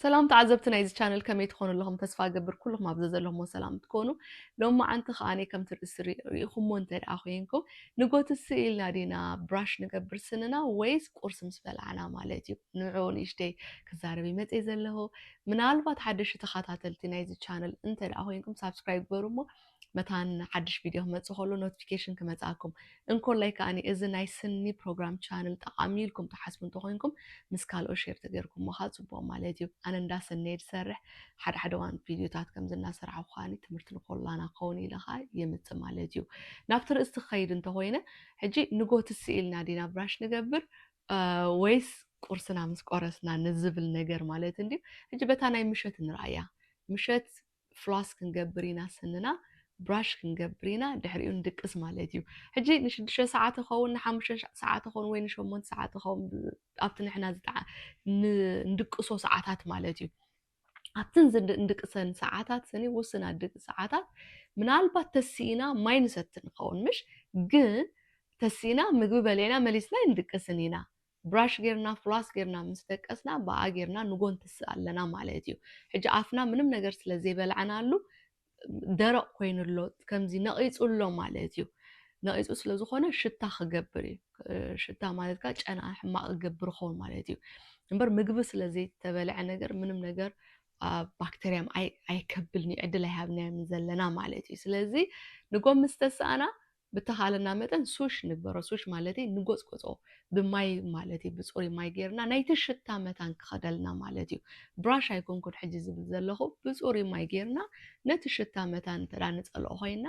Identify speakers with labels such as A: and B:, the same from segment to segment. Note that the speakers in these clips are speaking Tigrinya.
A: ሰላም ተዓዘብቲ ናይዚ ቻነል ከመይ ትኾኑ ኣለኹም ተስፋ ገብር ኩልኹም ኣብ ዘለኹሞ ሰላም ትኮኑ ሎሚ መዓንቲ ከዓ ከምቲ ርእሲ ርኢኹሞ እንተ ደኣ ኮንኩም ንጎቲ ስኢልና ዲና ብራሽ ንገብር ስንና ወይስ ቁርሲ ምስ በላዕና ማለት እዩ ንዑ ንእሽተይ ክዛረብ ይመፀ ዘለኹ ምናልባት ሓደሽቲ ተኸታተልቲ ናይዚ ቻነል እንተ ደኣ ኮንኩም ሳብስክራይብ ግበሩ እሞ መታን ሓድሽ ቪድዮ ክመጽእ ከሎ ኖቲፊኬሽን ክመጽኣኩም እንኮላይ ከኣኒ እዚ ናይ ስኒ ፕሮግራም ቻነል ጠቓሚ ኢልኩም ትሓስቡ እንተኾይንኩም ምስ ካልኦት ሼር ተገይርኩሞ ከዓ ጽቡቕ ማለት እዩ ኣነ እንዳ ስኒ እየ ዝሰርሕ ሓደ ሓደ እዋን ቪድዮታት ከምዚ እናሰራሕኩ ከኣኒ ትምህርቲ ንኮላና ክኸውን ኢለ ከዓ የምጽእ ማለት እዩ ናብቲ ርእስቲ ክኸይድ እንተኾይነ ሕጂ ንጎት ስኢልና ዲና ብራሽ ንገብር ወይስ ቁርስና ምስ ቆረስና ንዝብል ነገር ማለት እንድዩ ሕጂ በታ ናይ ምሸት ንርኣያ ምሸት ፍሏስ ክንገብር ኢና ስንና ብራሽ ክንገብር ኢና ድሕሪኡ ንድቅስ ማለት እዩ ሕጂ ንሽዱሽተ ሰዓት ይኸውን ንሓሙሽተ ሰዓት ይኸውን ወይ ንሸሞንተ ሰዓት ይኸውን ኣብቲ ንሕና ንድቅሶ ሰዓታት ማለት እዩ ኣብትን ዝንድቅሰን ሰዓታት ስኒ ውስን ኣድቂ ሰዓታት ምናልባት ተሲኢና ማይ ንሰቲ ንኸውን ምሽ ግን ተሲኢና ምግቢ በሌና መሊስና ይንድቅስን ኢና ብራሽ ጌርና ፍሏስ ጌርና ምስ ደቀስና ብኣ ጌርና ንጎንትስ ኣለና ማለት እዩ ሕጂ ኣፍና ምንም ነገር ስለ ዘይበላዕናሉ ደረቅ ኮይኑ ኣሎ ከምዚ ነቂጹ ኣሎ ማለት እዩ ነቂጹ ስለ ዝኾነ ሽታ ክገብር እዩ ሽታ ማለት ከኣ ጨና ሕማቅ ክገብር ይኸውን ማለት እዩ እምበር ምግቢ ስለ ዘይተበልዐ ነገር ምንም ነገር ባክተርያ ኣይከብልን እዩ ዕድል ኣይሃብናዮም ዘለና ማለት እዩ ስለዚ ንጎም ምስ ተሳእና ብተኻእለና መጠን ሱሽ ንግበሮ ሱሽ ማለተይ ንጎጽጎጾ ብማይ ማለት እዩ ብጹሩይ ማይ ጌርና ናይቲ ሽታ መታን ክኸደልና ማለት እዩ ብራሽ ኣይኮንኩን ሕጂ ዝብል ዘለኹ ብጹሩይ ማይ ጌርና ነቲ ሽታ መታን እንተ ንጸልኦ ኮይና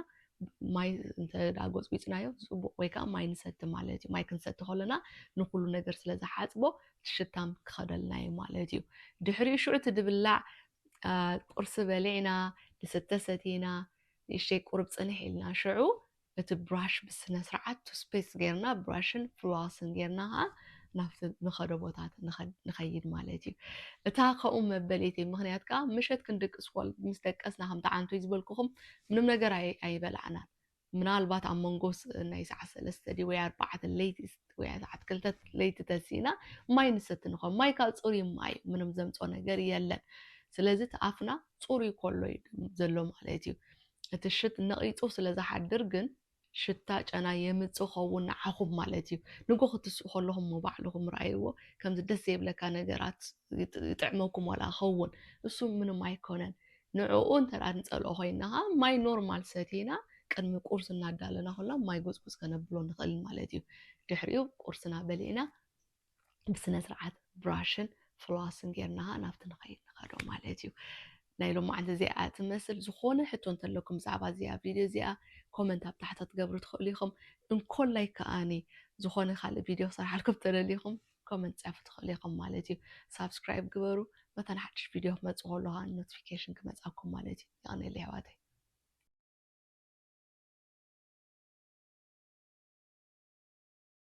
A: ማይ እንተ ጎጽጉጽናዮ ጽቡቅ ወይ ከኣ ማይ ንሰቲ ማለት እዩ ማይ ክንሰቲ ከሎና ንኹሉ ነገር ስለ ዝሓጽቦ እቲ ሽታም ክኸደልና እዩ ማለት እዩ ድሕሪኡ ሽዑ እቲ ድብላዕ ቁርሲ በሊዕና ድስተ ሰቲና ንእሽተይ ቁሩብ ጽንሕ ኢልና ሽዑ እቲ ብራሽ ብስነስርዓት ቱስፔስት ጌርና ብራሽን ፍሉዋስን ጌርና ከኣ ናብቲ ንኸዶ ቦታ ንኸይድ ማለት እዩ። እታ ከምኡ መበሊተይ ምኽንያት ከኣ ምሸት ክንድቅስ ኮል ምስ ደቀስና ከምቲ ዓንቶይ ዝበልኩኹም ምንም ነገር ኣይበላዕናን ምናልባት ኣብ መንጎ ናይ ሰዓት ሰለስተ ድዩ ወይ ኣርባዕተ ለይቲ ወይ ሰዓት ክልተ ለይቲ ተሲእና ማይ ንሰቲ ንኾን ማይ ከኣ ጽሩይ ማይ ምንም ዘምጾ ነገር የለን ስለዚ እቲ ኣፍና ፅሩይ ኮሎ እዩ ዘሎ ማለት እዩ እቲ ሽት ነቂፁ ስለ ዝሓድር ግን ሽታ ጨና የምፅ ኸውን ንዓኹም ማለት እዩ ንጎ ክትስኡ ከለኹም እሞ ባዕልኹም ረኣይዎ ከምዚ ደስ ዘይብለካ ነገራት ይጥዕመኩም ዋላ ይኸውን እሱ ምንም ኣይኮነን ንዕኡ እንተ ንፀልኦ ኮይና ከኣ ማይ ኖርማል ሰቲና ቅድሚ ቁርሲ እናዳለና ከላ ማይ ጎፅጎፅ ከነብሎ ንኽእል ማለት እዩ ድሕሪኡ ቁርስና በሊዕና ብስነ ስርዓት ብራሽን ፍሎስን ጌርና ኸኣ ናብቲ ንኸይድ ንኸዶ ማለት እዩ ናይ ሎማዓንቲ እዚኣ ትመስል ዝኾነ ሕቶ እንተለኩም ብዛዕባ እዚኣ ቪድዮ እዚኣ ኮመንት ኣብ ታሕቲ ክትገብሩ ትኽእሉ ኢኹም እንኮላይ ከኣኒ ዝኾነ ካልእ ቪድዮ ክሰርሓልኩም ተደሊኹም ኮመንት ጻፉ ትኽእሉ ኢኹም ማለት እዩ ሳብስክራይብ ግበሩ መታን ሓድሽ ቪድዮ ክመጽእ ከሎ ኸኣ ኖቲፊኬሽን ክመጻኩም ማለት እዩ ይቐነለ ኣሕዋተይ